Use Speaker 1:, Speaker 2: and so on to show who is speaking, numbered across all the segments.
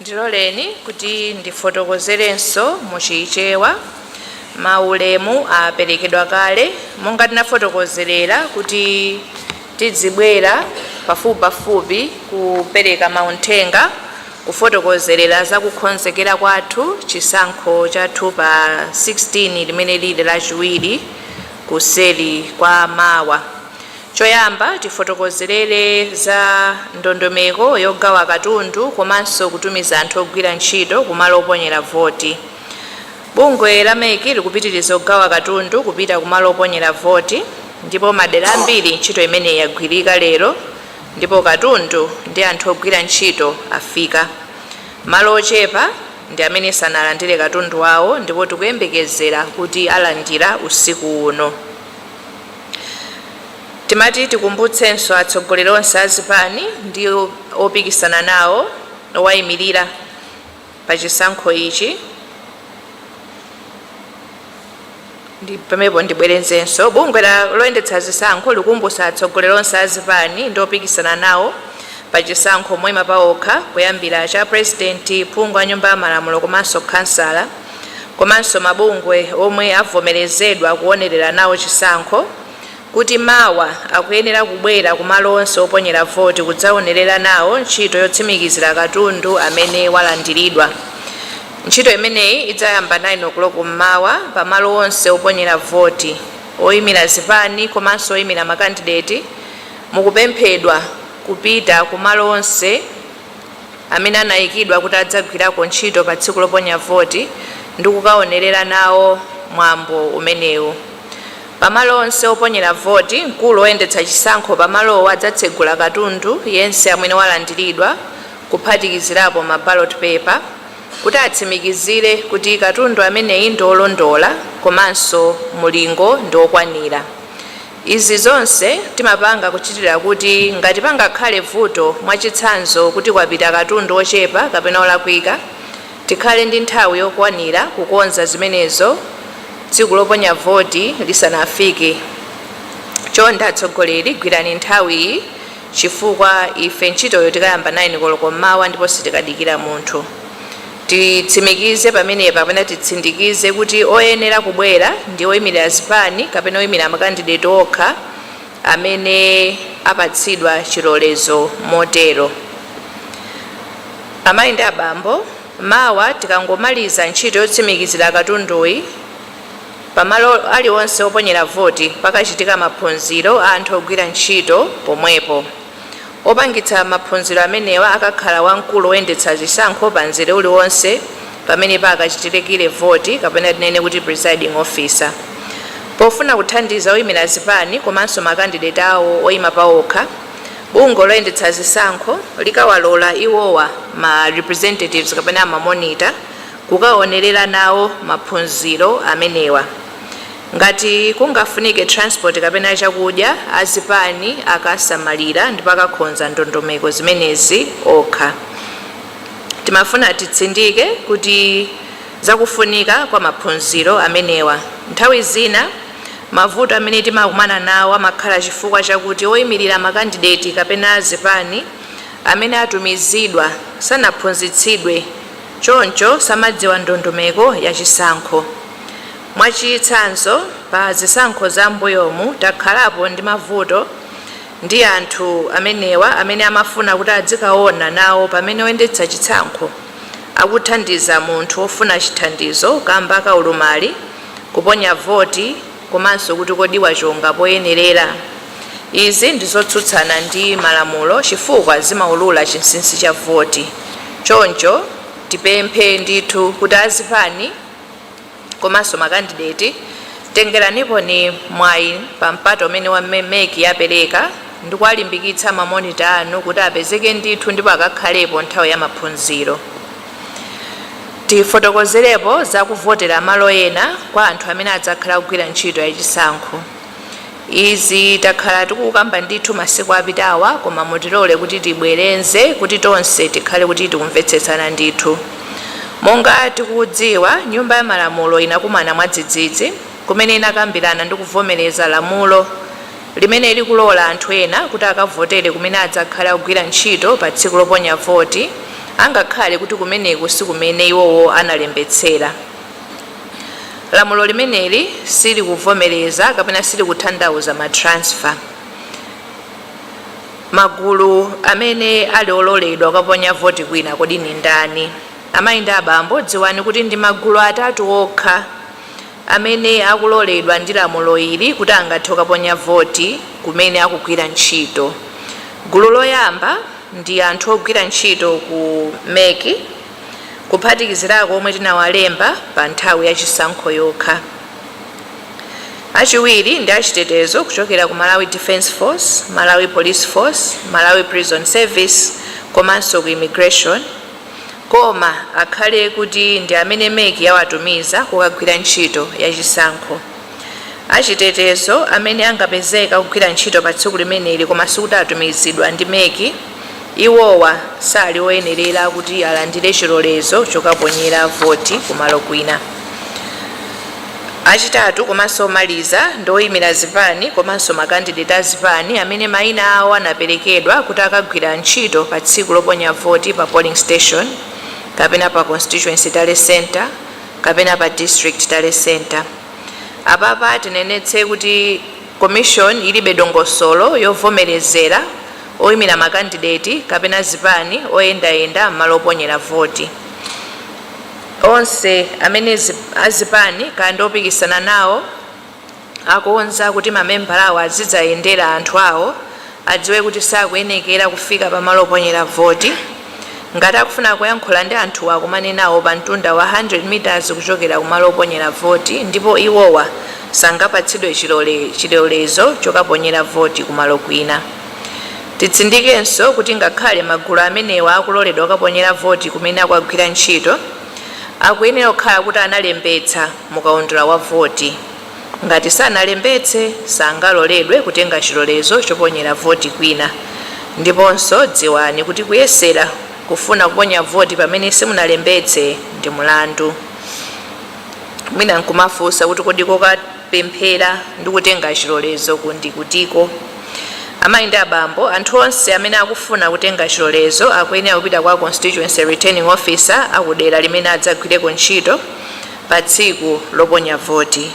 Speaker 1: ndiloleni kuti ndifotokozerenso mu chichewa maulemu aperekedwa kale monga tinafotokozerera kuti Tidzibwera pafupipafupi kupereka mauthenga kufotokozerera za kukonzekera kwathu chisankho chathu pa 16 limene liri lachiwiri kuseri kwa mawa. Choyamba tifotokozerere za ndondomeko yogawa katundu komanso kutumiza anthu ogwira ntchito kumalo oponyera voti. Bungwe la MEC likupitiriza kugawa katundu kupita ku malo oponyera voti ndipo madera ambiri ntchito imeneyi yagwirika lero ndipo katundu ndi anthu ogwira ntchito afika. Malo ochepa ndi amene sanalandire katundu wawo ndipo tikuyembekezera kuti alandira usiku uno. Timati tikumbutsenso atsogoleri onse a zipani ndi opikisana nawo, owayimirira, pa chisankho ichi pamenepo ndibwerezenso bungwe loyendetsa zisankho likumbutsa atsogoleri onse a zipani ndi opikisana nawo pa chisankho moyima paokha kuyambira cha purezidenti phungu a nyumba ya malamulo komanso khansala komanso mabungwe omwe avomerezedwa kuonerera nawo chisankho kuti mawa akuyenera kubwera ku malo onse oponyera voti kudzaonerera nawo ntchito yotsimikizira katundu amene walandiridwa. Ntchito imeneyi idzayamba 9:00 m'mawa pa malo onse oponyera voti. Oimira zipani komanso oimira makandideti mukupemphedwa kupita ku malo onse amene anaikidwa kuti adzagwirako ntchito pa tsiku loponya voti ndi kukaonerera nawo mwambo umenewu. Pa malo onse oponyera voti, mkulu woyendetsa chisankho pa malowo adzatsegula katundu yense amene walandiridwa, kuphatikizirapo ma ballot paper, kuti atsimikizire kuti katundu ameneyi ndi olondola komanso mulingo ndi okwanira. Izi zonse timapanga kuchitira kuti ngati pangakhale vuto, mwachitsanzo kuti kwapita katundu ochepa kapena olakwika, Tikhale ndi nthawi yokwanira kukonza zimenezo tsiku loponya voti lisanafike. Chonde atsogoleri gwirani nthawi chifukwa ife ntchitoyo tikayamba 9 koloko mmawa ndipo sitikadikira munthu. Titsimikize pamenepa kapena titsindikize kuti oyenera kubwera ndi oyimira zipani kapena oyimira makandideti okha. amene apatsidwa chilolezo motero. Amayi ndi abambo, mawa tikangomaliza ntchito yotsimikizira katunduyi, pamalo alionse oponyera voti pakachitika maphunziro a anthu ogwira ntchito pomwepo. Wopangitsa maphunziro amenewa akakhala wamkulu woyendetsa zisankho pa mzere uliwonse pamene pakachitikire voti kapena tinene kuti presiding officer. Pofuna kuthandiza oyimira zipani komanso makandideti awo oyima paokha, bungwe loyendetsa zisankho likawalola iwowa, ma representatives kapena ma monitor, kukaonerera nawo maphunziro amenewa. Ngati kungafunike transport kapena chakudya azipani akasamalira ndipo akakhonza ndondomeko zimenezi okha. Timafuna titsindike kuti za kufunika kwa maphunziro amenewa. Nthawi zina mavuto amene timakumana nawo amakhala chifukwa chakuti oimilira makandideti kapena azipani amene atumizidwa sanaphunzitsidwe choncho samadziwa ndondomeko ya chisankho. Mwachitsanzo, pa zisankho za m'mbuyomu takhalapo ndi mavuto ndi anthu amenewa amene amafuna kuti adzikaona nawo pamene oyendetsa chisankho akuthandiza munthu wofuna chithandizo kamba ka ulumali kuponya voti komanso kuti kodi wachonga poyenerera. Izi ndi zotsutsana ndi malamulo chifukwa zimaulula chinsinsi cha voti. Choncho tipemphe ndithu kuti azipani. komanso makandideti, tengeraniponi mwayi pa mpata umene wa mec yapereka ndikuwalimbikitsa ma monitor anu kuti apezeke ndithu ndipo akakhalepo nthawi ya maphunziro. Tifotokozerepo za kuvotera malo ena kwa anthu amene adzakhala akugwira ntchito ya chisankho. Izi takhala tikukamba ndithu masiku apitawa koma mutilole kuti tibwerenze kuti tonse tikhale kuti tikumvetsetsana ndithu. Monga tikudziwa nyumba ya malamulo inakumana mwadzidzidzi kumene inakambirana ndi kuvomereza lamulo limene likulola anthu ena kuti akavotere kumene adzakhale akugwira ntchito pa tsiku loponya voti angakhale kuti kumeneku sikumene iwowo analembetsera. Lamulo limeneli silikuvomereza kapena silikutanthauza ma transfer. Magulu amene ali ololedwa kukaponya voti kwina kodi ndi ndani? Amayi ndi abambo, dziwani kuti ndi magulu atatu okha amene akuloledwa ndi lamulo ili kuti angathe kukaponya voti kumene akugwira ntchito. Gulu loyamba ndi anthu ogwira ntchito ku mec. kuphatikizirako omwe tinawalemba pa nthawi ya chisankho yokha. Achiwiri ndi achitetezo kuchokera ku Malawi Defence Force, Malawi Police Force, Malawi Prison Service komanso ku Immigration koma akhale kuti ndi amene MEC yawatumiza kukagwira ntchito ya chisankho. achitetezo amene angapezeke akugwira ntchito pa tsiku limeneli koma sikuti atumizidwa ndi MEC, iwowa sali oyenerera kuti alandire chilolezo chokaponyera voti kumalo kwina. Achitatu komanso omaliza ndi oimira zipani komanso makandideti a zipani amene mayina awo anaperekedwa kuti akagwira ntchito pa tsiku loponya voti pa polling station kapena pa Constituency Tally Centre, kapena pa district tally centre. Apapa tinenetse kuti commission ilibe dongosolo yovomerezera oimira makandideti kapena zipani oyendayenda m'malo oponyera voti. Onse amene zip, azipani kaya ndi opikisana nawo akonza kuti mamembala awo azidzayendera anthu awo adziwe kuti sakuyenekera kufika pamalo oponyera voti. Ngati akufuna kuyankhula ndi anthuwo akumane nawo pamtunda wa 100 mitazi kuchokera kumalo oponyera voti ndipo iwowa sangapatsidwe chilolezo chokaponyera voti kumalo kwina. Titsindikenso kuti ngakhale magulu amenewa akuloledwa kukaponyera voti kumene akukagwira ntchito, akuyenera kukhala kuti analembetsa mukaundula wa voti. Ngati sanalembetse, sangaloledwe kutenga chilolezo choponyera voti kwina. Ndiponso dziwani kuti kuyesera kufuna kuponya voti pamene simunalembetse ndi mlandu. Mwina nkumafunsa kuti kodi kokapemphera ndi kutenga chilolezoku ndi kutiko? Amayi ndi abambo, anthu onse amene akufuna kutenga chilolezo akuyenera kupita kwa Constituency Returning Officer akudera limene adzagwireko ntchito. pa tsiku loponya voti.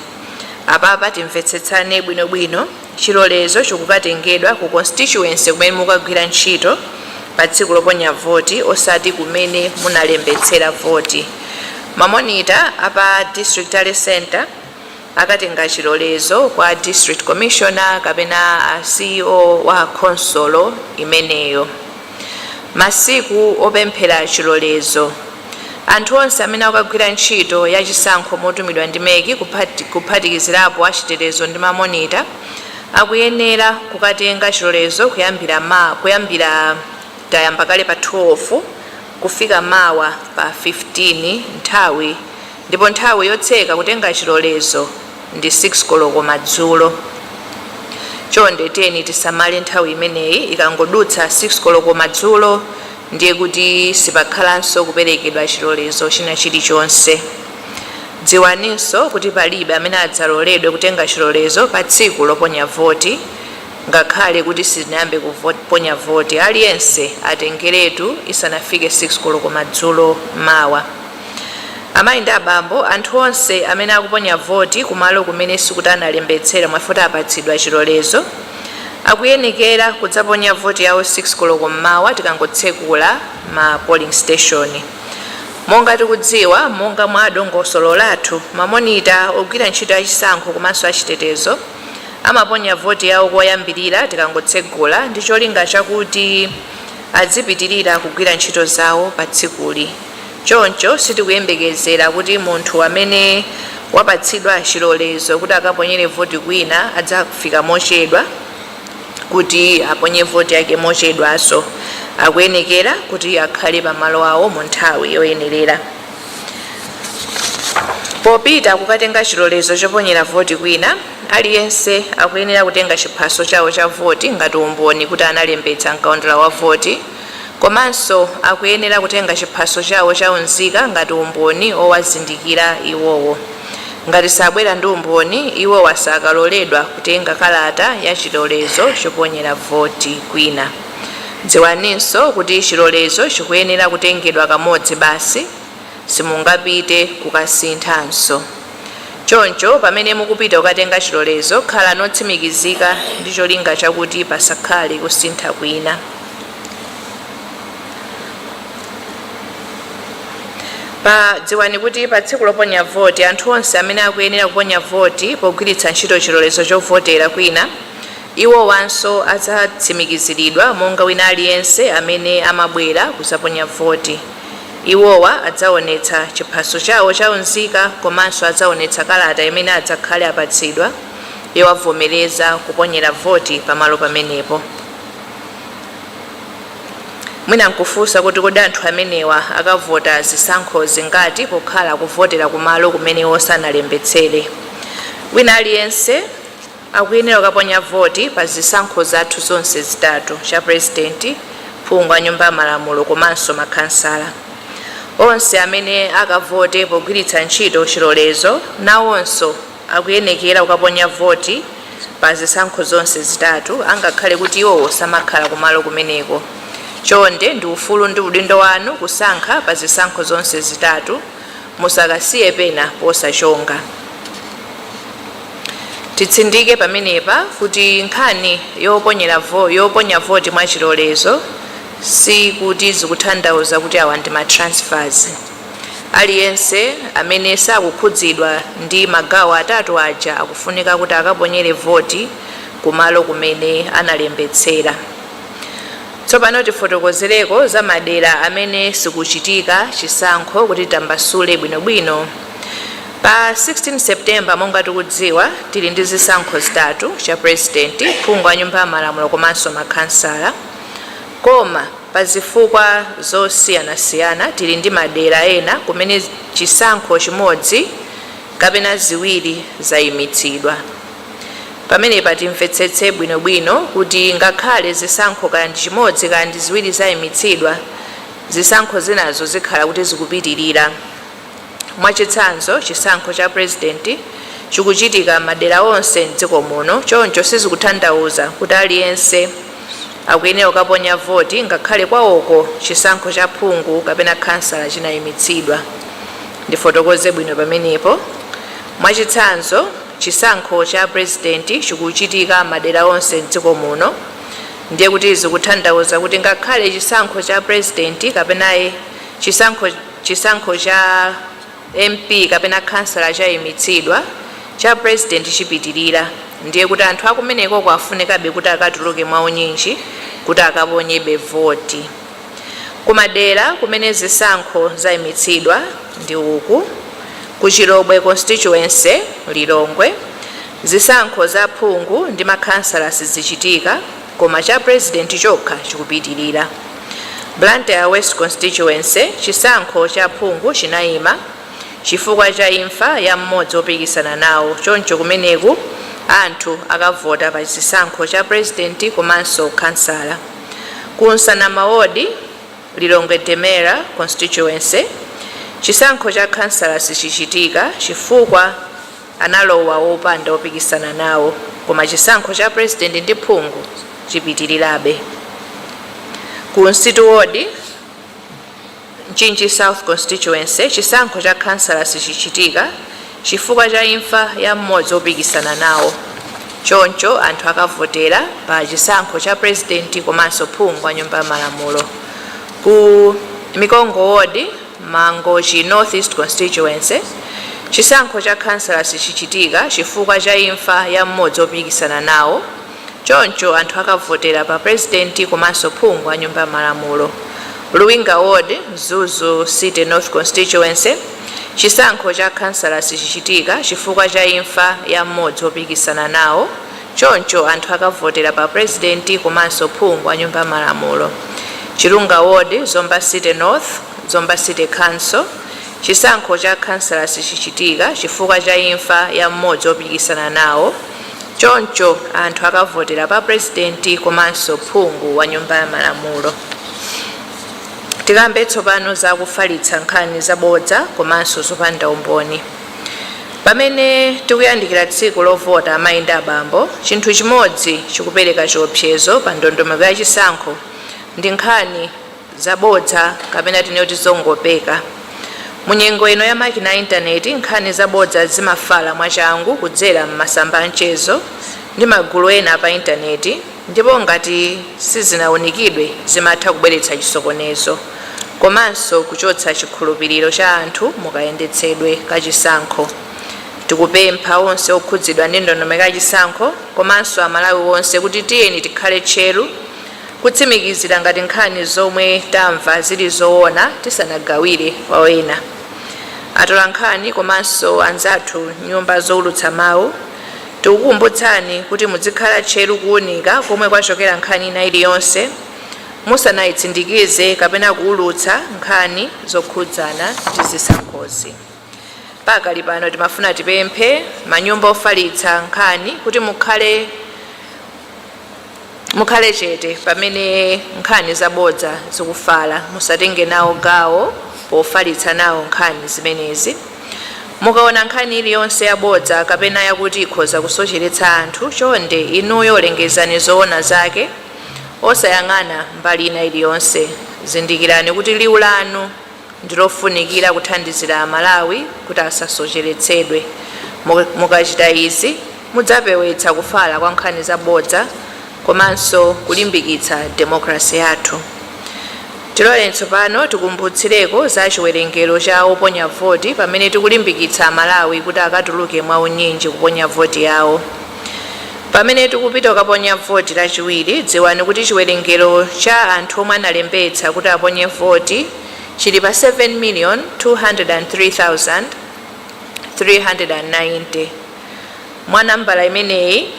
Speaker 1: Apapa timvetsetsane bwinobwino, chilolezo chikukatengedwa ku constituency kumene mukagwira ntchito pa tsiku loponya voti osati kumene munalembetsera voti. Mamonita a pa district tally centre, akatenga chilolezo kwa District Commissioner kapena a CEO wa khonsolo imeneyo. Masiku opemphera chilolezo Anthu onse amene akukagwira ntchito ya chisankho motumidwa ndi MEC kuphatikizirapo achitetezo ndi mamonita akuyenera kukatenga chilolezo kuyambira ma kuyambira tayamba kale pa 12 kufika mawa pa 15 nthawi ndipo nthawi yotseka kutenga chilolezo ndi 6 koloko madzulo. Chonde tiyeni tisamale nthawi imeneyi, ikangodutsa 6 koloko madzulo ndiye kuti sipakhalanso kuperekedwa chilolezo china chilichonse. Dziwaninso kuti palibe amene adzaloledwe kutenga chilolezo pa tsiku loponya voti ngakhale kuti sitinayambe kuponya voti. Aliyense atengeretu isanafike 6 koloko madzulo mawa. Amayi ndi abambo, anthu onse amene akuponya voti kumalo kumene sikuti analembetsera mwa iwo eti apatsidwa chilolezo. Akuyenekera kudzaponya voti yawo 6 koloko mmawa tikangotsekula ma polling station. Monga tikudziwa, monga mwa dongosolo lathu, ma monita, ogwira ntchito ya chisankho komanso achitetezo amaponya voti yawo koyambirira tikangotsegula ndi cholinga chakuti adzipitirira kugwira ntchito zawo pa tsikuli. Choncho sitikuyembekezera kuti munthu amene wapatsidwa chilolezo kuti akaponyere voti kwina adzafika mochedwa kuti aponye voti yake mochedwanso. Akuyenekera kuti akhale pamalo awo mu nthawi yoyenerera. Popita kukatenga chilolezo choponyera voti kwina, aliyense akuyenera kutenga chiphaso chawo cha voti ngati umboni kuti analembetsa m'kaundula wa voti. Komanso akuyenera kutenga chiphaso chawo cha unzika ngati umboni owazindikira iwowo. Ngati sabwera ndi umboni, iwowa sakaloledwa kutenga kalata ya chilolezo choponyera voti kwina. Dziwaninso kuti chilolezo chikuyenera kutengedwa kamodzi basi. Simungapite kukasinthanso. Choncho, pamene mukupita kukatenga chilolezo, khalani otsimikizika ndi cholinga chakuti pasakhale kusintha kwina. Pa, dziwani kuti pa tsiku loponya voti, anthu onse amene akuyenera kuponya voti pogwiritsa ntchito chilolezo chovotera kwina, iwowanso adzatsimikiziridwa monga wina aliyense amene amabwera kuzaponya voti. Iwowa adzaonetsa chiphaso chawo cha unzika komanso adzaonetsa kalata imene adzakhale apatsidwa yowavomereza kuponyera voti pamalo pamenepo. Mwina nkufunsa kuti kodi anthu amenewa akavota zisankho zingati pokhala akuvotera kumalo kumene iwo sanalembetsere? Wina aliyense akuyenera kukaponya voti pa zisankho zathu zonse zitatu, cha President, phungu wa nyumba ya malamulo komanso ma khansala. Onse amene akavote pogwiritsa ntchito chilolezo nawonso akuyenekera kukaponya voti pa zisankho zonse zitatu angakhale kuti iwowo samakhala kumalo kumeneko. Chonde ndi ufulu ndi udindo wanu kusankha pa zisankho zonse zitatu. musakasiye pena posachonga titsindike pamenepa kuti nkhani yoponya voti mwa chilolezo si kuti zikuthandauza kuti awa ndi matransfers aliyense amene sakukhudzidwa ndi magawo atatu aja akufunika kuti akaponyere voti kumalo kumene analembetsera Tsopano tifotokozereko za madera amene sikuchitika chisankho kuti tambasule bwinobwino. Pa 16 September monga tikudziwa tili ndi zisankho zitatu, cha president, phungu wa nyumba ya malamulo komanso makhansala. Koma pa zifukwa zosiyanasiyana tili ndi madera ena kumene chisankho chimodzi kapena ziwiri zaimitsidwa. Pamenepa timvetsetse bwino bwino kuti ngakhale zisankho kaya ndi chimodzi kaya ndi ziwiri zaimitsidwa, zisankho zinazo zikhala kuti zikupitilira. Mwachitsanzo, chisankho cha Purezidenti chikuchitika madera onse m'dziko muno choncho sizikuthandauza kuti aliyense akuyenera kukaponya voti ngakhale kwawoko chisankho cha phungu kapena khansala chinaimitsidwa. Ndifotokoze bwino pamenepo. Mwachitsanzo. Chisankho cha Prezidenti chikuchitika madera onse m'dziko muno ndiye kuti zikuthandauza kuti ngakhale chisankho cha Prezidenti kapena chisankho cha MP kapena khansala chaimitsidwa, cha Prezidenti chipitilira ndiye kuti anthu akumenekoko afunikabe kuti akatuluke mwaunyinji kuti akaponyebe voti. Ku madera kumene zisankho zaimitsidwa ndi uku, Ku Chilobwe Constituency, Lilongwe, zisankho za aphungu ndi makhansala sizichitika koma cha President chokha chikupitilira. Blantyre West Constituency, chisankho cha phungu chinaima chifukwa cha imfa ya mmodzi opikisana nawo choncho kumeneku anthu akavota pa chisankho cha President komanso khansala. Ku Nsanama Ward, Lilongwe Demera Constituency, chisankho cha khansala sichichitika chifukwa analowa wopanda opikisana nawo koma chisankho cha President ndi phungu chipitilirabe. Ku Msitu Ward, Mchinji South Constituency chisankho cha khansala sichichitika chifukwa cha imfa ya mmodzi opikisana nawo choncho anthu akavotera pa chisankho cha Pulezidenti komanso Phungu wa Nyumba ya Malamulo ku Mikongo Ward Mangochi North East Constituency chisankho cha khansala sichichitika chifukwa cha imfa ya mmodzi opikisana nawo Choncho anthu akavotera pa Pulezidenti komanso phungu wa Nyumba ya Malamulo, Luwinga Ward, Mzuzu City North Constituency, chisankho cha khansala sichichitika chifukwa cha imfa ya m'modzi wopikisana nawo choncho anthu akavotera pa Pulezidenti komanso phungu wa Nyumba ya Malamulo, Chilunga Ward, Zomba City North, Zomba City Council, chisankho cha khansala sichichitika chifukwa cha imfa ya m'modzi wopikisana nawo. Choncho anthu akavotera pa Pulezidenti komanso phungu wa nyumba ya malamulo. Tikambe tsopano za kufalitsa nkhani zabodza komanso zopanda umboni. Pamene tikuyandikira tsiku lovota amayi ndi abambo, chinthu chimodzi chikupereka chiopsezo pa ndondomeko ya chisankho ndi nkhani. zabodza kapena tinene kuti zongopeka. Mu nyengo ino ya makina a intaneti, nkhani zabodza zimafala mwachangu kudzera m'masamba a mchezo ndi magulu ena pa intaneti ndipo ngati sizinaunikidwe zimatha kubweretsa chisokonezo komanso kuchotsa chikhulupiriro cha anthu mu kayendetsedwe ka chisankho. Tikupempha onse okhudzidwa ndi ndondomeko ya chisankho komanso Amalawi onse kuti tiyeni tikhale tcheru, Kutsimikizira ngati nkhani zomwe tamva zili zowona tisanagawire kwa ena. Atolankhani komanso anzathu nyumba zowulutsa mawu tikukumbutsani kuti mudzikhala tcheru kuwunika komwe kwachokera nkhani ina iliyonse musanayitsindikize kapena kuwulutsa nkhani zokhudzana ndi zisankhozi. Pakali pano timafuna tipemphe manyumba ofalitsa nkhani kuti mukhale mukhale chete pamene nkhani zabodza zikufala musatenge nawo gawo pofalitsa nawo nkhani zimenezi mukaona nkhani iliyonse yabodza kapena yakuti ikhoza kusocheretsa anthu chonde inuyo lengezani zoona zake osayang'ana mbali ina iliyonse zindikirani kuti liwu lanu ndilofunikira kuthandizira Amalawi kuti asasocheretsedwe. Mukachita izi mudzapewetsa kufala kwa nkhani zabodza komanso kulimbikitsa demokalase yathu. Tiloleni tsopano tikumbutsireko za chiwerengero cha oponya voti pamene tikulimbikitsa Amalawi kuti akatuluke mwaunyinji kuponya voti yawo. Pamene tikupita kukaponya voti Lachiwiri, dziwani kuti chiwerengero cha anthu omwe analembetsa kuti aponye voti chili pa 7,203,390. Mwa nambala imeneyi,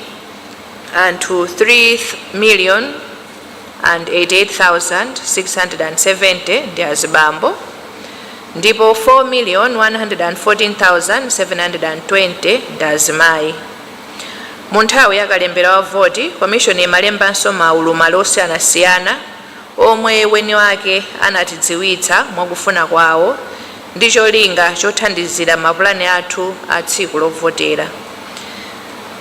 Speaker 1: anthu 3,088,670 ndi azibambo. ndipo 4,114,720 ndi azimayi. Mu nthawi ya kalembera wa voti, Komishoni imalembanso maulumali osiyanasiyana omwe weni wake anatidziwitsa mwakufuna kwawo ndi cholinga chothandizira mapulani athu a tsiku lovotera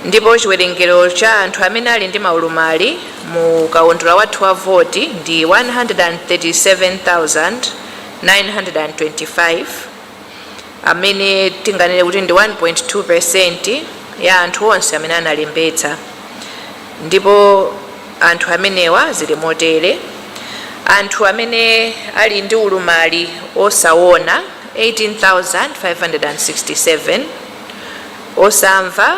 Speaker 1: ndipo chiwerengero cha anthu amene ali ndi maulumali mu kaundula wathu wa voti ndi 137,000. 925 amene tinganene kuti ndi 1.2 percent ya anthu onse amene analembetsa ndipo anthu amenewa zili motere anthu amene ali ndi ulumali osawona 18567 osamva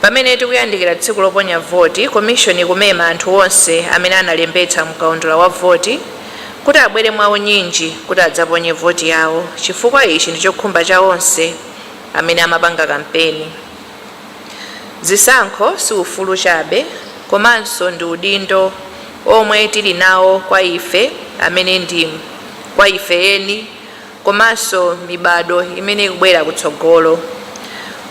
Speaker 1: Pamene tikuyandikira tsiku loponya voti, Komishoni ikumema anthu onse amene analembetsa mkaundula wa voti kuti abwere mwa unyinji kuti adzaponye voti yawo chifukwa ichi ndi chokhumba cha onse amene amapanga kampeni. Zisankho si ufulu chabe komanso ndi udindo omwe tili nawo kwa ife amene ndi kwa ife eni, komanso mibadwo imene ikubwera kutsogolo.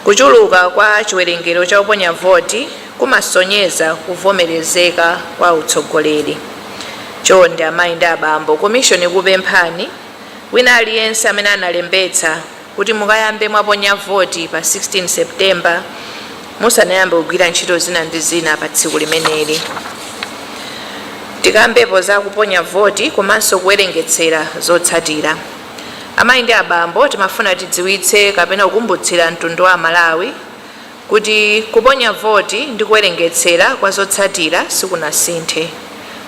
Speaker 1: Kuchuluka kwa chiwerengero cha oponya voti kumasonyeza kuvomerezeka kwa utsogoleri. Chonde amayi ndi abambo, komishoni ikukupemphani, wina aliyense amene analembetsa, kuti mukayambe mwaponya voti pa 16 September musanayambe kugwira ntchito zina ndi zina pa tsiku limeneli. Tikambepo za kuponya voti komanso kuwerengetsera zotsatira. Amayi ndi abambo timafuna tidziwitse kapena kukumbutsira mtundu wa Amalawi kuti kuponya voti ndi kuwerengetsera kwa zotsatira sikunasinthe.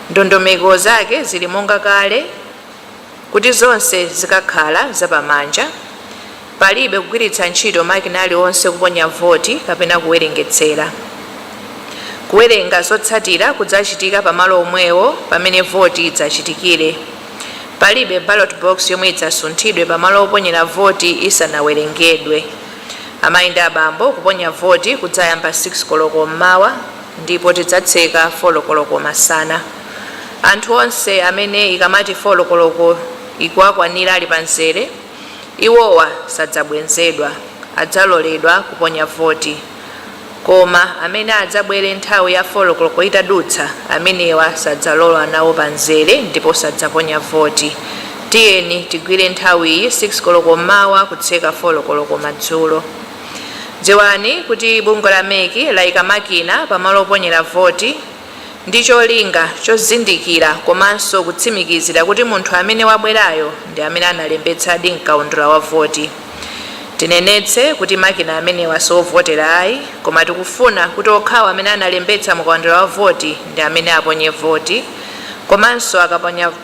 Speaker 1: Ndondomeko zake zili monga kale. Kuti zonse zikakhala za pamanja, palibe kugwiritsa ntchito makina aliwonse kuponya voti kapena kuwerengetsera. Kuwerenga zotsatira kudzachitika pamalo omwewo pamene voti idzachitikire. Palibe ballot box yomwe idzasunthidwe pamalo oponyera voti isanawerengedwe. Amayi ndi abambo, kuponya voti kudzayamba 6 koloko m'mawa ndipo tidzatseka 4 koloko masana. Anthu onse amene ikamati 4 koloko ikuwakwanira ali pa mzere, iwowa sadzabwenzedwa, adzaloledwa kuponya voti. Koma amene adzabwere nthawi ya 4 koloko itadutsa, amenewa sadzalowa nawo pa mzere ndipo sadzaponya voti. Tiyeni tigwire nthawiyi, 6 koloko mmawa kutseka 4 koloko madzulo. Dziwani kuti bungwe la MEC laika makina pa malo oponyera voti. ndi cholinga chozindikira komanso kutsimikizira kuti munthu amene wabwerayo ndi amene analembetsadi m'kaundula wa voti. Tinenetse kuti makina amenewa si ovotera ayi, koma tikufuna kuti okhawo amene analembetsa mu kaundula wa voti ndi amene aponye voti komanso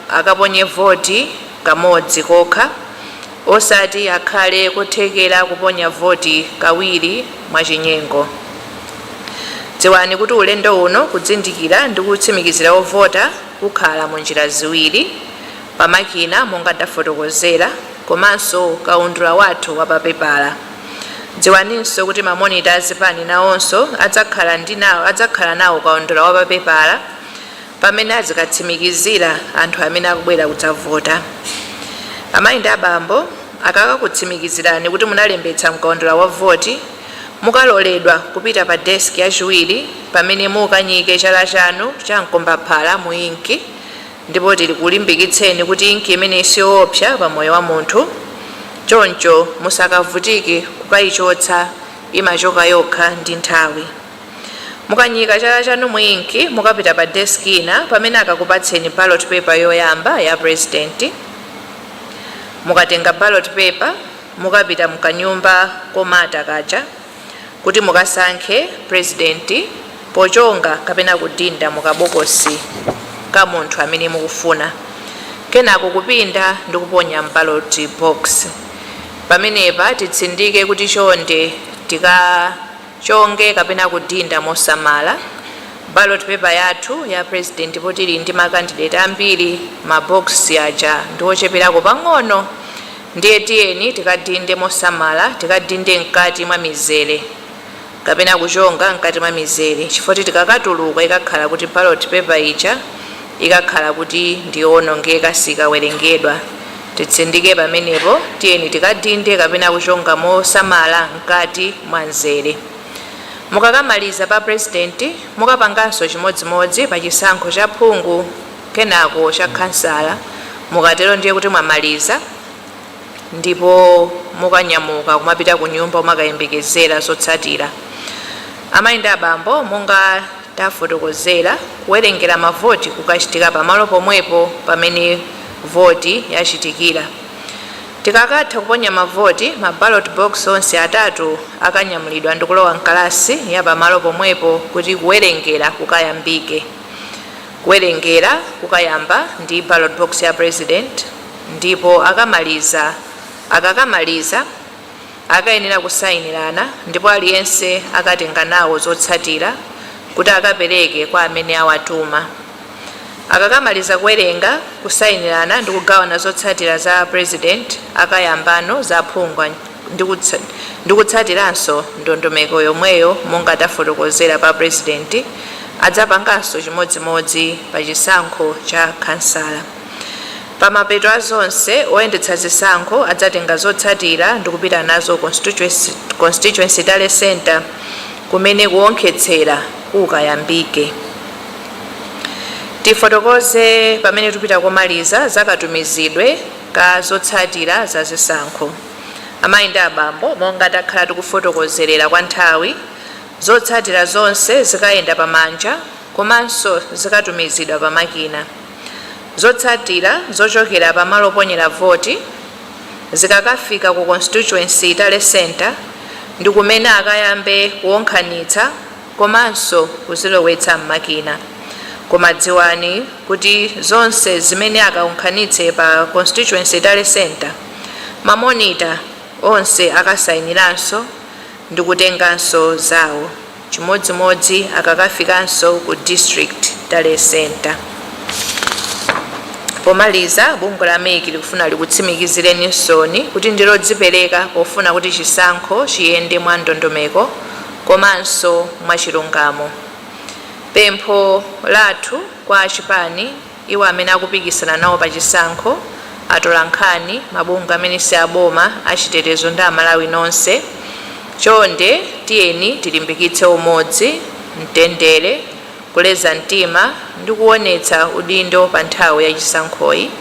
Speaker 1: akaponye voti kamodzi kokha, Osati akhale kothekera kuponya voti kawiri mwachinyengo. Dziwani kuti ulendo uno kudzindikira ndi kutsimikizira ovota kukhala mu njira ziwiri, pa makina monga ndafotokozera komanso kaundula wathu wa pa pepala. Dziwaninso kuti ma monita a zipani nawonso adzakhala ndi nawo adzakhala nawo kaundula wa pa pepala. pamene azikatsimikizira anthu amene akubwera kudzavota. Amayi ndi abambo akakakutsimikizirani kuti munalembetsa mkaundula wa voti, mukaloledwa kupita pa desiki yachiwiri pamene mukanyike chala chanu cha mkombaphala mu inki ndipo tikulimbikitseni kuti inki imeneyi siyoopsa pa moyo wa munthu choncho musakavutike kukayichotsa, imachoka yokha ndi nthawi. Mukanyika chala chanu mu ink, mukapita pa desk ina pamene akakupatseni ballot paper yoyamba ya president. Mukatenga ballot paper, mukapita mkanyumba komata kaja kuti mukasankhe president pochonga kapena kudinda mu kabokosi ka munthu amene mukufuna kenako kupinda ndi kuponya m'ballot box. Pamenepa titsindike kuti chonde tika. chonge kapena kudinda mosamala ballot paper yathu ya president poti tili ndi ma candidate ambiri ma box aja ndi ocheperako pang'ono ndiye tiyeni tikadinde mosamala tikadinde mkati mwa mizere kapena kuchonga mkati mwa mizere chifukwa choti tikakatuluka ikakhala kuti ballot paper ija ikakhala kuti ndi yoonongeka sikawerengedwa Titsindike pamenepo, tiyeni tikadinde kapena kuchonga mosamala mkati mwa mzere. Mukakamaliza pa Purezidenti, mukapanganso chimodzimodzi pa chisankho cha phungu kenako cha khansala. Mukatero ndiye kuti mwamaliza ndipo mukanyamuka kumapita kunyumba kumakayembekezera zotsatira. Amayi ndi abambo, monga. tafotokozera, kuwerengera mavoti kukachitika pamalo pomwepo pamene voti yachitikira. Tikakatha kuponya mavoti, ma ballot box onse atatu akanyamulidwa ndi kulowa m'kalasi ya pamalo pomwepo kuti kuwerengera kukayambike. Kuwerengera kukayamba ndi ballot box ya President ndipo akamaliza, akakamaliza, akayenera kusainirana ndipo aliyense akatenga nawo zotsatira kuti akapereke kwa amene awatuma. Akakamaliza kuwerenga, kusainirana ndi kugawana zotsatira za Purezidenti akayambano za aphungu ndi kutsatiranso ndondomeko yomweyo monga tafotokozera pa Purezidenti adzapanganso chimodzimodzi pa chisankho cha Khansala. Pamapeto a zonse, oyendetsa zisankho adzatenga zotsatira ndikupita nazo ku Constituency Tally Centre kumene kuwonkhetsera kukayambike. Tifotokoze pamene tupita komaliza za katumizidwe ka zotsatira za zisankho. Amayi ndi abambo, monga takhala tikufotokozerera kwa nthawi, zotsatira zonse zikayenda pamanja komanso zikatumizidwa pamakina. Zotsatira zochokera pa malo oponyera voti zikakafika ku Constituency Tally Centre ndi kumene akayambe kuwonkhanitsa komanso kuzilowetsa m'makina. Koma dziwani kuti zonse zimene akawonkhanitse pa Constituency Tally Centre, ma monitor onse akasainiranso ndikutenganso zawo. Chimodzimodzi akakafikanso ku District Tally Centre. Pomaliza, bungwe la MEC likufuna likutsimikizireni nsoni kuti ndi lodzipereka pofuna kuti chisankho chiyende mwa ndondomeko komanso mwachilungamo. Pempho lathu kwa achipani. Iwo amene akupikisana nawo pa chisankho, atolankhani, mabungwe amene si aboma, achitetezo ndi Amalawi nonse, chonde tiyeni tilimbikitse umodzi, mtendere, kuleza mtima ndi kuwonetsa udindo pa nthawi ya chisankhoyi.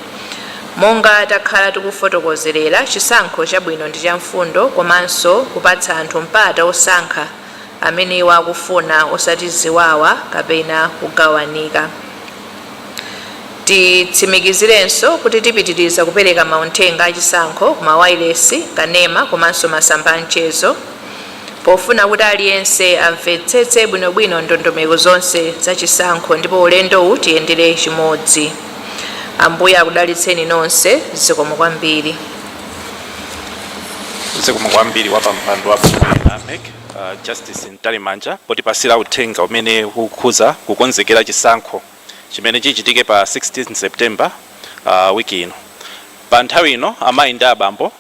Speaker 1: Monga takhala tikufotokozerera, chisankho chabwino ndi cha mfundo komanso kupatsa anthu mpata wosankha. amene iwo akufuna, osati ziwawa kapena kugawanika. Titsimikizirenso kuti tipitiriza kupereka maunthenga a chisankho ku mawailesi, kanema komanso masamba a mchezo pofuna kuti aliyense amvetsetse bwinobwino ndondomeko zonse za chisankho ndipo ulendowu tiyendere chimodzi. Ambuye akudalitseni nonse. Zikomo kwambiri.
Speaker 2: zikomo kwambiri wa pampando wa bungwe la MEC uh, Justice Mtalimanja potipasira uthenga umene ukukhuza kukonzekera chisankho chimene chichitike pa 16 September uh, wiki ino pa nthawi ino amayi ndi abambo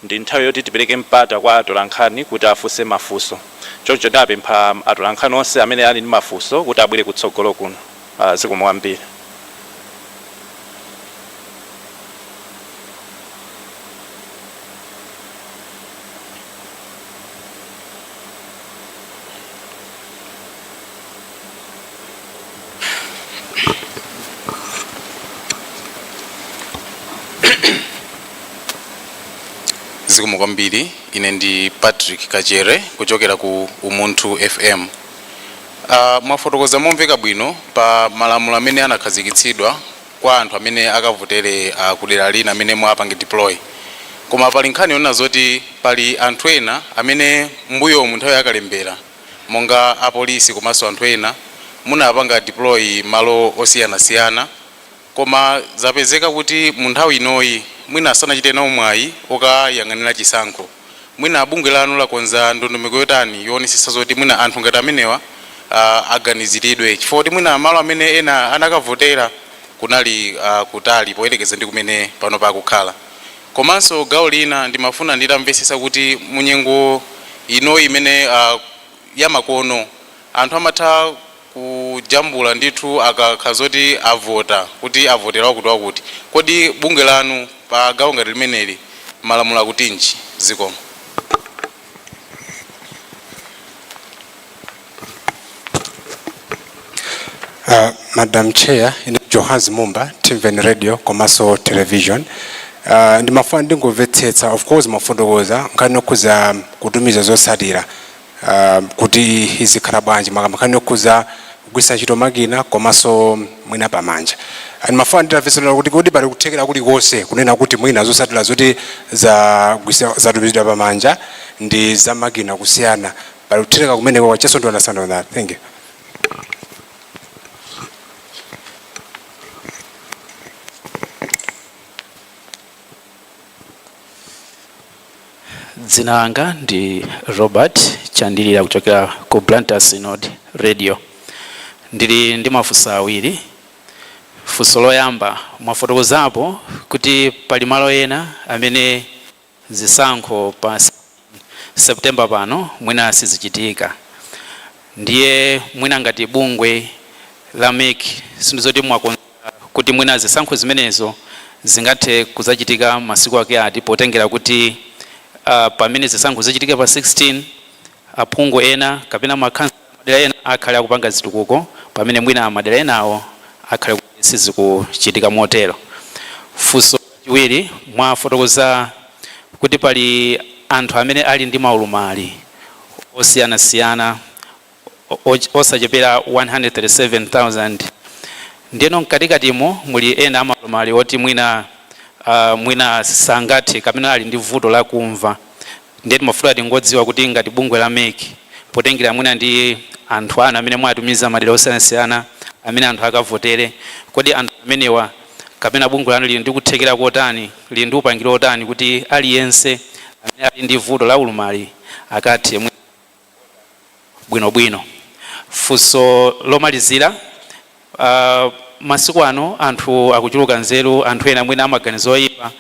Speaker 2: ndi nthawi yoti tipereke mpata kwa atolankhani kuti afunse mafunso choncho ndapempha atolankhani onse amene ali ndi mafunso kuti abwere kutsogolo kuno Ah, zikomo kwambiri.
Speaker 3: zikomo kwambiri ine ndi patrick kachere kuchokera ku umunthu fm Aaa mwafotokoza momveka bwino pa malamulo amene anakhazikitsidwa kwa anthu amene akavotere kudera lina amene mwapange deploy koma pali nkhani yonena zoti pali anthu ena amene mmbuyomu nthawi ya kalembera monga apolisi komanso anthu ena munawapanga deploy malo osiyanasiyana Koma zapezeka kuti mu nthawi inoyi mwina sanachite nawo mwayi okayang'anila chisankho. Mwina bungwe lanu lakonza ndondomeko yotani yowonesetsa zoti mwina anthu ngati amenewa aganizilidwe chifukwa kuti mwina malo amene ena anakavotela kunali kutali poyelekeza ndi kumene panopa akukhala. Komanso gawo lina ndimafuna nditamvetsetsa kuti mu nyengo inoyi imene yamakono anthu amatha. kujambula ndithu akakhala zoti avota kuti avotera wakuti wakuti kodi bungwe lanu pa gawo ngati limeneli malamulo akutinji zikomo. Uh,
Speaker 4: madam chair ine johannes mumba timveni radio komanso television uh, ndimafuna ndingomvetsetsa of course mwafotokoza nkhani okhuza kutumiza zotsatira uh, kuti zizikhala bwanji makamaka nkhani yokhuza kugwisa ntchito makina komanso mwina pamanja ndimafuna nditamvetsetsa kuti kodi pali kuthekera kulikonse kunena kuti mwina zosatira zoti zagwisa zatumizidwa pamanja ndi za makina kusiyana pali kuthekera kumeneko just to understand on that thank you
Speaker 5: dzina langa ndi robert chandilira kuchokera ku blantyre synod radio ndili ndi mafunso awiri funso loyamba mwafotokozapo kuti pali malo ena amene zisankho pa September pano mwina sizichitika ndiye mwina ngati bungwe la mec sindizoti mwakonza kuti mwina zisankho zimenezo zingathe kudzachitika masiku ake ati potengera kuti pamene zisankho zichitika pa 16 aphungu ena kapena ma madera ena akhale akupanga zitukuko pamene mwina madera enawo akhale kuti sizikuchitika motero. Funso chiwiri, mwafotokoza kuti pali anthu amene ali ndi maulumali osiyanasiyana osachepera 137,000 ndiyeno mkatikatimo muli ena amaulumali oti mwina mwina sangathe kapena ali ndi vuto la kumva. ndiye timafuna tingodziwa kuti ngati bungwe la mec potengera mwina ndi anthu anu amene mwawatumiza madera osiyanasiyana amene anthu akavotere kodi anthu amenewa kapena bungwe lanu lili ndi kuthekera kotani lili ndi upangiri otani kuti aliyense amene ali ndi vuto la ulumali akathe mwina bwinobwino. Funso lomalizira, uh, masiku ano anthu akuchuluka nzeru, anthu ena mwina amaganizo oyipa,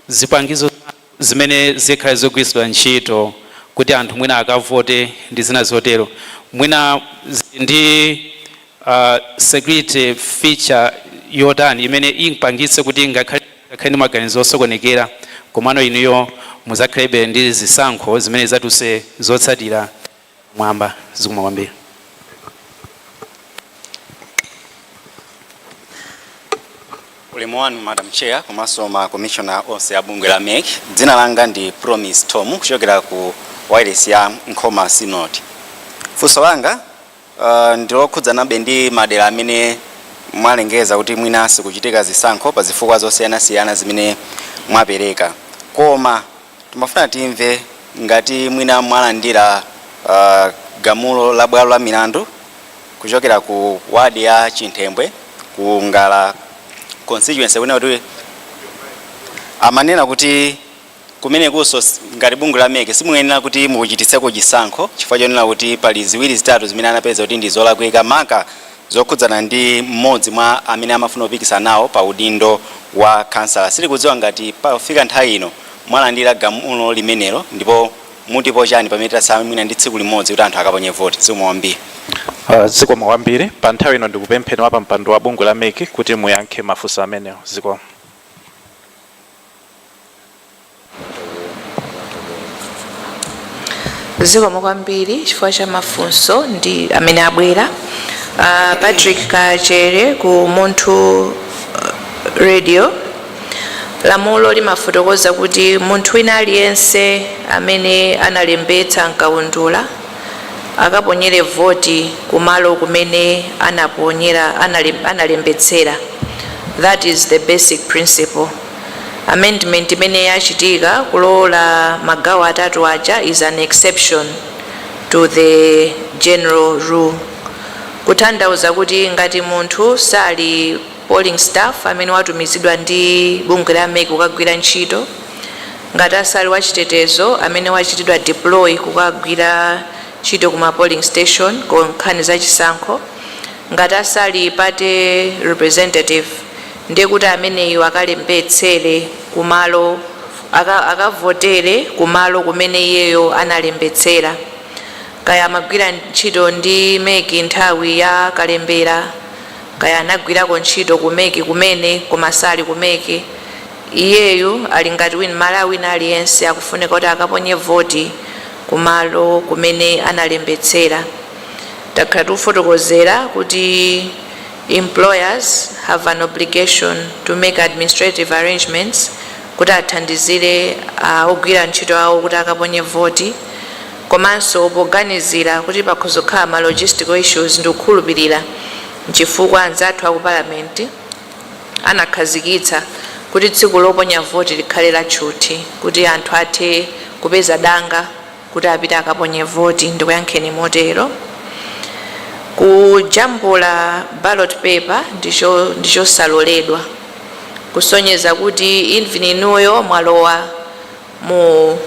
Speaker 5: zipangizo zimene zikhale zogwiritsidwa ntchito kuti anthu mwina akavote ndi zina zotero mwina ndi security feature yotani imene ipangitse kuti ngakhale ndi maganizo osokonekera komano inuyo mudzakhalebe ndi zisankho zimene zidzatulutse zotsatira pamwamba? Zikomo kwambiri.
Speaker 6: Ulemu wanu Madam Chair komanso ma Commissioner onse a bungwe la mec. Dzina langa ndi Promise Thom kuchokera ku wailesi ya Nkhoma Synod. Funso langa Uh, ndilokhudzanabe ndi madera amene mwalengeza kuti mwina sikuchitika zisankho pa zifukwa zosiyanasiyana zimene mwapereka koma timafuna timve ngati mwina mwalandira uh, gamulo la bwalo la milandu kuchokera ku wadi ya chinthembwe ku ngala constituency kunena kuti amanena kuti Kumenekonso, ngati bungwe la mec, simuyenera kuti mukachititseko chisankho chifukwa chonena kuti pali ziwiri zitatu zimene anapeza kuti ndi zolakwika, maka zokhudzana ndi m'modzi mwa amene amafuna kupikisana nawo pa udindo wa khansala. Sitikudziwa ngati pofika nthawi ino mwalandira gamulo limenelo ndipo mutipo chani pamene tatsala mwina ndi tsiku limodzi kuti anthu akaponye voti. Zikomo kwambiri. Zikomo
Speaker 2: kwambiri. Pa nthawi ino ndikupempheni wapampando wa bungwe la mec kuti muyankhe mafunso amenewo. Zikomo.
Speaker 1: zikomo kwambiri chifukwa cha mafunso ndi amene abwera uh, patrick kachere ku Umunthu uh, radio lamulo limafotokoza kuti munthu wina aliyense amene analembetsa mkaundula akaponyere voti kumalo kumene anaponyera, analembetsera that is the basic principle. Amendment imene yachitika kulola magawo atatu aja is an exception to the general rule. Kutanthauza kuti ngati munthu sali polling staff amene watumizidwa ndi bungwe la mec kukagwira ntchito ngati asali wachitetezo amene wachitidwa deploy kukagwira ntchito kuma polling station ku nkhani za chisankho ngati asali party representative ndiye kuti ameneyo akalembetsere kumalo aka- akavotere kumalo kumene iyeyo analembetsera kaya amagwira ntchito ndi mec nthawi ya kalembera Kaya anagwirako ntchito ku mec kumene koma sali ku mec. Iyeyu ali ngati win Mmalawi wina aliyense akufunika kuti akaponye voti ku malo kumene analembetsera. Takhala tikufotokozera kuti employers have an obligation to make administrative arrangements kuti athandizire ogwira ntchito awo kuti akaponye voti. Komanso poganizira kuti pakhoza kukhala ma logistical issues ndikukhulupilira nchifukwa anzathu aku parliament anakhazikitsa kuti tsiku loponya voti likhale la tchuthi kuti anthu athe kupeza danga kuti apite akaponye voti. Ndikuyankheni motero. Kujambula ballot paper ndichosaloledwa kusonyeza kuti even inuyo mwalowa. mu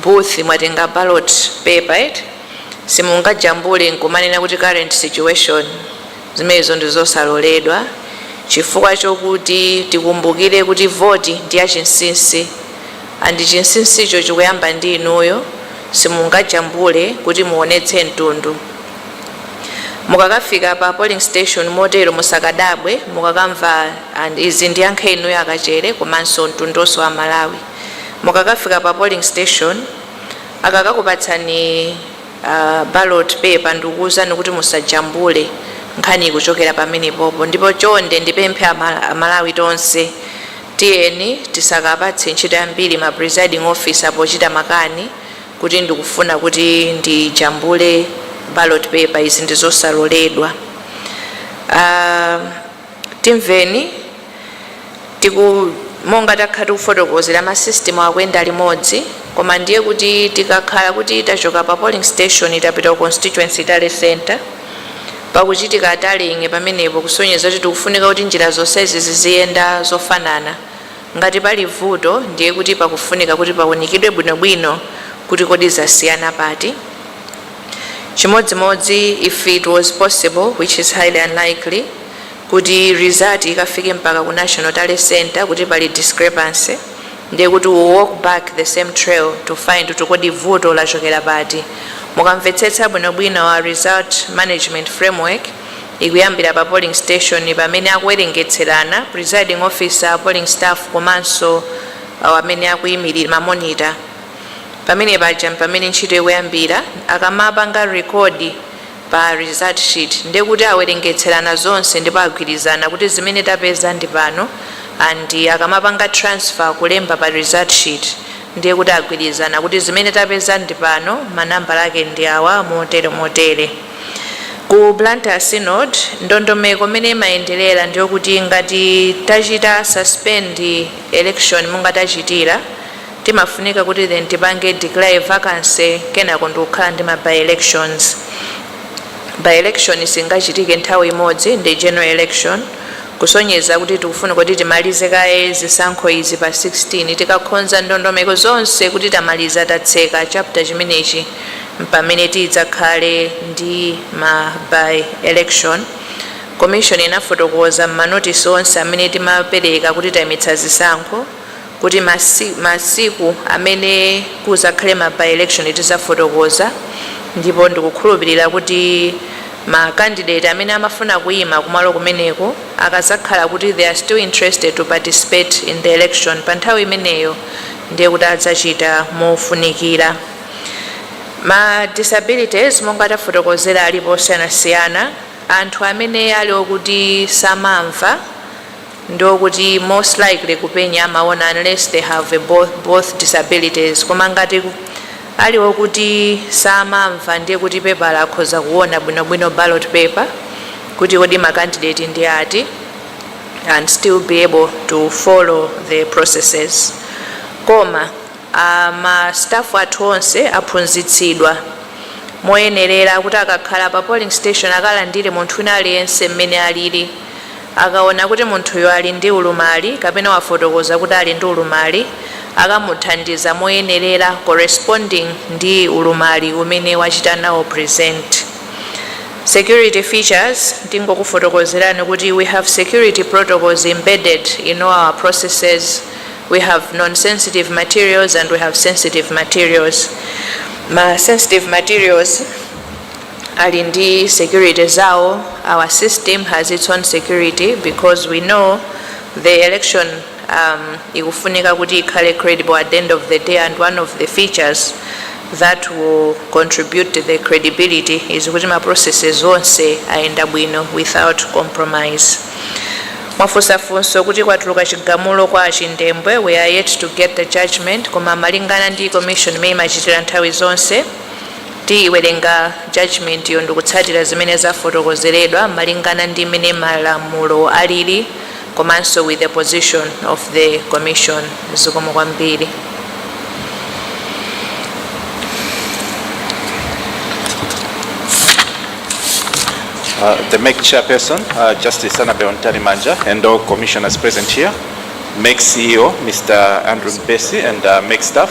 Speaker 1: booth mwatenga ballot paper eti simungajambule nkumanena kuti current situation zimenezo ndi zosaloledwa chifukwa chokuti tikumbukire kuti voti ndi ya chinsinsi andi chinsinsicho chikuyamba ndi inuyo simungajambule kuti muonetse mtundu mukakafika pa polling station motero musakadabwe mukakamva and izi ndiyankhe inuyo akachere komanso mtundonso wa malawi mukakafika pa polling station akakakupatsani uh, ballot paper ndikuwuzani kuti musajambule nkhani ikuchokera pamenepopo ndipo chonde ndipemphe amalawi tonse tiyeni tisakapatse ntchito yambiri ma presiding officer pochita makani kuti ndikufuna kuti ndijambule ballot paper izi ndizosaloledwa uh, Timveni tiku Monga takhala tikufotokozera ma system akuyenda limodzi koma ndiye kuti tikakhala kuti tachoka pa polling station tapita ku constituency tally centre pakuchitika tallying pamenepo kusonyeza kuti tikufunika kuti njira zonsezi ziziyenda zofanana. Ngati pali vuto ndiye kuti pakufunika kuti paunikidwe bwinobwino kuti kodi zasiyana pati. Chimodzimodzi if it was possible which is highly unlikely kuti result ikafike mpaka ku national tally centre kuti pali discrepancy ndiye kuti we walk back the same trail to find kuti kodi vuto lachokera pati. Mukamvetsetsa bwinobwino our result management framework ikuyambira pa polling station pamene akuwerengetserana presiding officer, polling staff komanso amene akuyimilira, ma monitor. Pamene paja mpamene ntchito ikuyambira, akamapanga record pa result sheet ndiye kuti awerengetserana zonse ndipo agwirizana kuti zimene tapeza ndi pano and akamapanga transfer kulemba pa result sheet ndiye kuti agwirizana kuti zimene tapeza ndi pano ma nambala ake ndi awa motere motere. Ku Blantyre Synod, ndondomeko mmene imayenderera ndiyokuti ngati tachita suspend election monga tachitira, Timafunika kuti then tipange declare vacancy kenako ndikukhala ndi ma by elections. By election singachitike nthawi imodzi ndi general election kusonyeza kuti tikufunika kuti timalize kaye zisankho izi pa 16 tikakhonza ndondomeko zonse kuti tamaliza tatseka chapter chimenechi mpamene tidzakhale ndi ma by election. Commission inafotokoza m'manotisi onse amene timapereka kuti taimitsa zisankho, kuti masiku amene kuzakhale ma by election tizafotokoza ndipo ndikukhulupilira kuti ma candidate amene amafuna kuima kumalo kumeneko akazakhala kuti they are still interested to participate in the election pa nthawi imeneyo ndiye kuti azachita mofunikira. Ma disabilities monga tafotokozera alipo osiyanasiyana, anthu amene ali okuti samamva ndiyokuti most likely kupenya amaona unless they have both disabilities koma ngati ali okuti samamva ndiye kuti pepala akhoza kuona bwinobwino ballot paper kuti kodi makandidate ndi ati and still be able to follow the processes koma uh, ma staff athu onse aphunzitsidwa moyenerera kuti akakhala pa polling station akalandire munthu wina aliyense mmene alili Akaona kuti munthuyo ali ndi ulumali kapena wafotokoza kuti ali ndi ulumali, akamuthandiza moyenerera corresponding ndi ulumali umene wachita nawo present. Security features ndingokufotokozerani kuti we have security protocols embedded in all our processes, we have nonsensitive materials and we have sensitive materials. Ma sensitive materials. ali ndi security zawo, our system has its own security because we know the election ikufunika kuti ikhale credible at the end of the day and one of the features that will contribute to the credibility is kuti ma processes onse ayenda bwino without compromise. Mwafunsa funso kuti kwatuluka chigamulo kwa achindembwe, we are yet to get the judgment koma malingana ndi commission imene imachitira nthawi zonse, Tiiwerenga judgment'yo ndikutsatira zimene zafotokozeredwa malingana ndi mmene malamulo alili komanso with the position of the commission. Zikomo kwambiri.
Speaker 2: The mec Chairperson, uh, Justice Annabel Mtalimanja, and all commissioners present here, mec CEO, Mr. Andrew Mpesi, and uh, mec staff,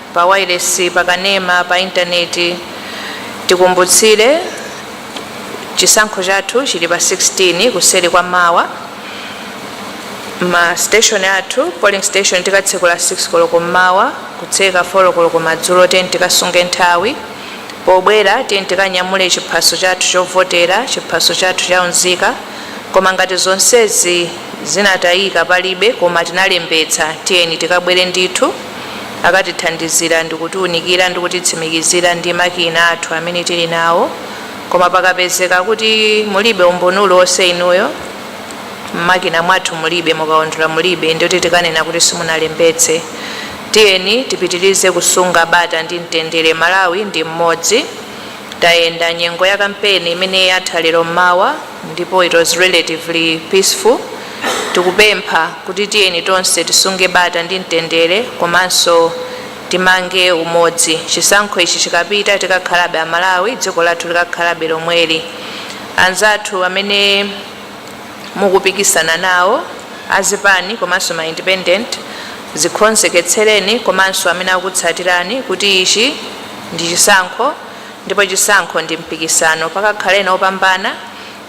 Speaker 1: pa wailesi, pa kanema, pa intaneti. Tikumbutsire, chisankho chathu chili pa 16 kuseri kwa mawa. Ma station athu, polling station tikatsekula 6 koloko mmawa, kutseka 4 koloko madzulo. Tiyeni tikasunge nthawi. Pobwera tiyeni tikanyamule chiphaso chathu chovotera, chiphaso chathu cha unzika. Koma ngati zonsezi zinatayika palibe koma tinalembetsa, tiyeni tikabwere ndithu. Akatithandizira ndi kutiunikira ndi kutitsimikizira ndi makina athu amene tili nawo koma pakapezeka kuti mulibe umboni uliwonse inuyo mmakina mwathu mulibe, mukaundula mulibe ndiye kuti tikanena kuti simunalembetse. Tiyeni tipitirize kusunga bata ndi mtendere Malawi ndi mmodzi. Tayenda nyengo ya kampeni imene yatha lero mmawa ndipo it was relatively peaceful. tikupempha kuti tiyeni tonse tisunge bata ndi mtendere komanso timange umodzi. Chisankho ichi chikapita tikakhalabe a Malawi, dziko lathu likakhalabe lomweli. Anzathu amene mukupikisana nawo azipani komanso ma independent zikonzeketsereni komanso amene akutsatirani kuti ichi ndi chisankho ndipo chisankho ndi mpikisano pakakhale ena opambana,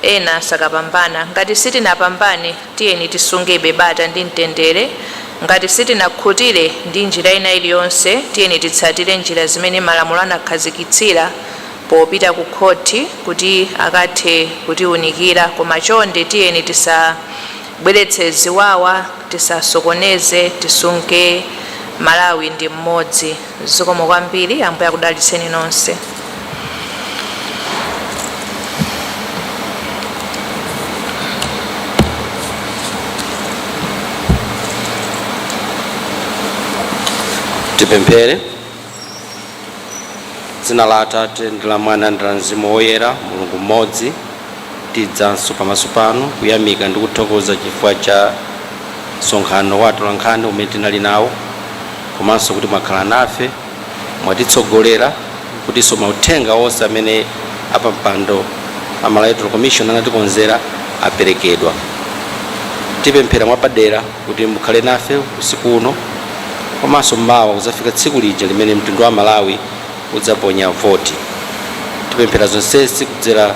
Speaker 1: Ena sakapambana. Ngati sitinapambane, tiyeni tisungebe bata ndi mtendere. Ngati sitinakhutire ndi njira ina iliyonse, tiyeni titsatire njira zimene malamulo anakhazikitsira popita kukhoti kuti akathe kutiunikira. Koma chonde tiyeni tisabweretse ziwawa, tisasokoneze, tisunge Malawi ndi mmodzi. zikomo kwambiri ambuye akudalitseni nonse
Speaker 7: tipemphere dzina la atate ndi la mwana ndi la mzimu woyera mulungu mmodzi Tidzanso pamaso panu kuyamika ndi kuthokoza chifukwa cha msonkhano wa atolankhani umene tinali nawo komanso kuti mwakhala nafe, mwatitsogolera kutinso mauthenga onse amene apampando a Malawi Electoral Commission anatikonzera aperekedwa. Tipemphera mwapadera kuti mukhale nafe usiku uno komanso mawa kudzafika tsiku lija limene mtundu wa Amalawi udzaponya voti. Tipemphera zonsezi kudzera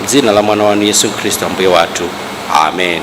Speaker 7: m'dzina la mwana wanu Yesu Khristu Ambuye wathu. Amen.